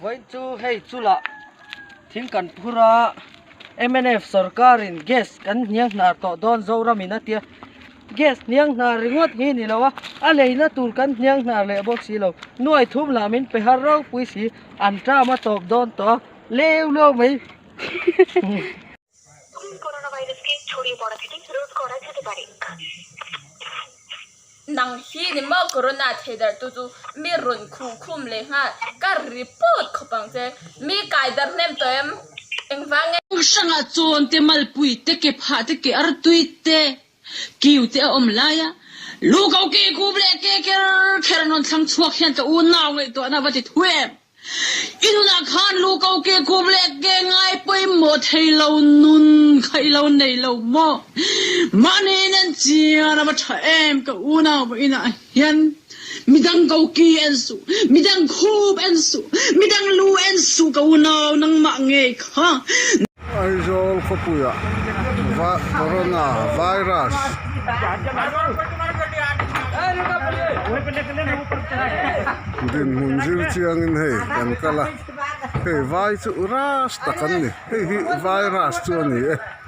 Vawiin chu hei chula thing kan phur a, mnf sawrkarin gas kan hniang hnar tawh dawn Zoram in a tia, gas hniang hnar ringawt hi ni lo a, a leina tur kan hniang hnar leh bawk si lo, nuaih thum lam in pe har ropui si an tama tawp dawn tawh a, leu leu mai. Nang hi a ni maw corona theidarhtu chu mi rawn khuh khum leh nghal kar ri pawt khawp ang che mi kai darh hnem tawh em engvang nge. Hrangah chuan te malpuite ke phah te ke artuite Kiu te a awm laia lu ko kei kup leh ke ker kher an rawn thlang chhuak hian ka unau ngaihtuahna va ti thu em? I nunah khan lu ko kei kup leh ke ngai pawimawh thei lo, nun kha i lo nei lo maw? Mahniin en chian a va tha em? Ka unau va in a. Hian, Midang ko ki en suh, midang khup en suh, midang lu en suh ka unau nangmah ngei kha. Aizawl khawpuiah Corona virus dinhmun zir chiangin hei kan kal a, hei vai chu ras tak an ni, hei hi virus chu a ni e.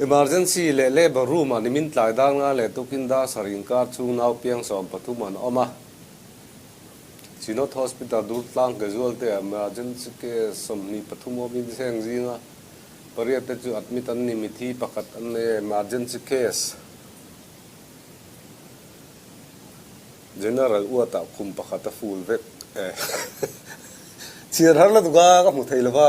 Emergency leh labour room-ah nimin tlai dar ngai leh tukin Darsar inkar chhung nau piang sawm pathum an awm a. Chinod Hospital Durtlang Casualty-ah Emergency case sawmhnih pathum awmin zeng zinga pariatte chu admit an ni. Mithi pakhat an nei a, emergency case. General uatah khum pakhat a ful vek e. Chhiar har la duka ka hmu thei lova.